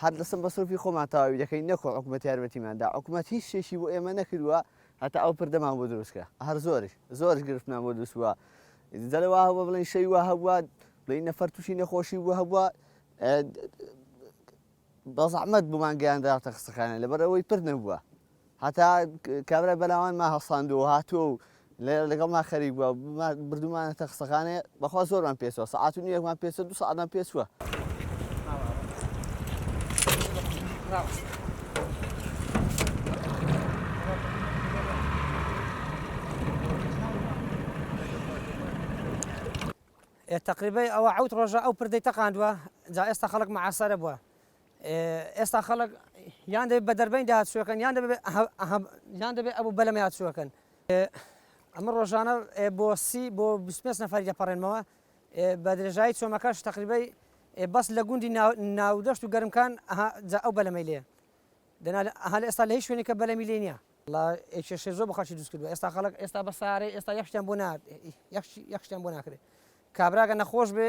هەر دەسە مەسروفی خۆمان تەواوی دەکەین نەکو حکومەت یارمەتیمان دا حکومەت هیچ شتێکی بۆ ئێمە نەکردووە هەتا ئەو پردەمان بۆ دروست کرا هەر زۆرش زۆرش گرفتمان بۆ دروست بووە جەلە وا هەبووە بڵێن شەوی وا هەبووە بڵێن نەفەر تووشی نەخۆشی بوو هەبووە بە زەحمەت بۆمان گەیاندراتە خستەخانە لەبەر ئەوەی پرد نەبووە هەتا کابرای بەناوانمان هەڵساندووە و هاتووە و لەگەڵمان خەریک بووە، بردوومانەتە خستەخانەیە، بەخوا زۆرمان پێچووە، سەعات و نیوێکمان پێچووە، دوو سەعاتمان پێچووە. تەقریبەی ئەوە حەوت ڕۆژە ئەو پردەی تەقاندووە، جا ئێستا خەڵک معاسەرە بووە، ئێستا خەڵک یان دەبێت بە دەربەین داهاتچوەکەن یان یان دەبێت ئەبوو بەلەمە یاچوەکەن ئەمە ڕۆژانە بۆ سی بۆ 25 نەفری دەپەڕێنمەوە بە درێژایی چۆمەکەش تقریبی بەس لە گوندی ناودەشت و گەرمکان ئەو بەلەمەی لێ دەنا هەل ئێستا لە هیچ شوێنی کە بەلەمی لێ نیە کێشێ زۆر بخەشی دوست کردو ئێستا خەڵک ئێستا بە سارەی ئێستا یەخشتیان بۆ یەخشتیان بۆ ناکرێت کابراگە نەخۆش بێ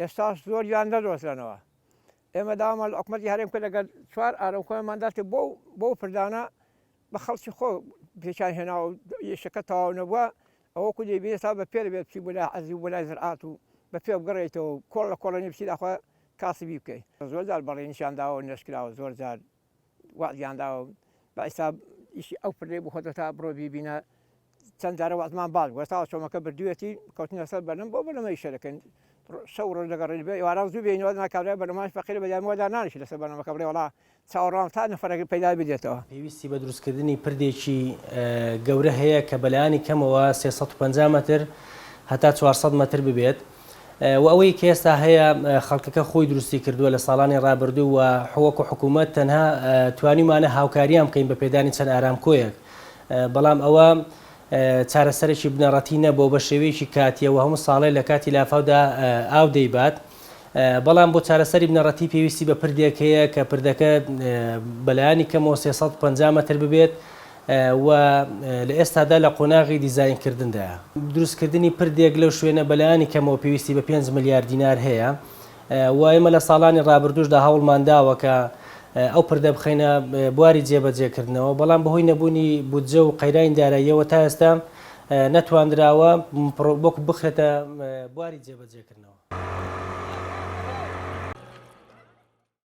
ئێستاش زۆریان دەدۆزرێنەوە. ئێمە داوامان لە حکومەتی هەرێم کرد ئەگەر چوار ئارەو خۆیانمان دەرکرد بۆ بەو پردانە بە خەڵکی خۆ پێکیان هێناوە و یەشەکە تەواو نەبووە ئەوە وەکو دەیبینێت تا بە پێ دەبێت بچی بۆ لای عەرزی و بۆ لای زرعات و بە پێ بگەڕێیتەوە و کۆڵ لە کۆڵێنی بچی داخوا کاسبی بکەی. زۆر جار بەڵێنیشیان داوە و نەشکراوە زۆر جار. وەعدیان داوە بە ئیستا ئیشی ئەو پردەی بۆ خۆتە تا بڕۆ بیبینە چەند جارە وەعدمان باڵ گوە تاوە چۆمەکە بردوێتی کەوتنە سەر بەرنم بۆ بەرنمە ئیشە دەکەن شەو ڕۆژ دەگەڕێن بێ ئێواران زوو بێنەوە ناکارە بەرنماش فەقیر بە یانوە دانانیش لەسەر بەرنمەکە بڵێ وڵا چاوەڕوان تا نەفەرەکە پەیدا بدێتەوە پێویستی بە دروستکردنی پردێکی گەورە هەیە کە بەلایانی کەمەوە 350 مەتر هەتا 400 مەتر ببێت وە ئەوەی کە ئێستا هەیە خەڵکەکە خۆی دروستی کردووە لە ساڵانی ڕابردوو و حوەک و حکوومەت تەنها توانیمانە هاوکاریان بکەین بە پێدانی چەند ئارام کۆیەک بەڵام ئەوە چارەسەرێکی بنەڕەتی نەبوو بە شێوەیەکی کاتیەوە هەموو ساڵێ لە کاتی لافاودا ئاو دەیبات بەڵام بۆ چارەسەری بنەڕەتی پێویستی بە پردێک هەیە کە پردەکە بەلایانی کەمەوە 350 متر ببێت و لە ئێستادا لە قۆناغی دیزاینکردندایە. دروستکردنی پردێک لەو شوێنە بەلایەنی کەمەوە پێویستی بە پێنج ملیار دینار هەیە و ئێمە لە ساڵانی رابردووشدا هەوڵمان داوە کە ئەو پردە بخەینە بواری جێبەجێکردنەوە، بەڵام بەهۆی نەبوونی بودجە و قەیرانی داراییەوە تا ئێستا نەتواندراوە پڕۆکە بخرێتە بواری جێبەجێکردنەوە.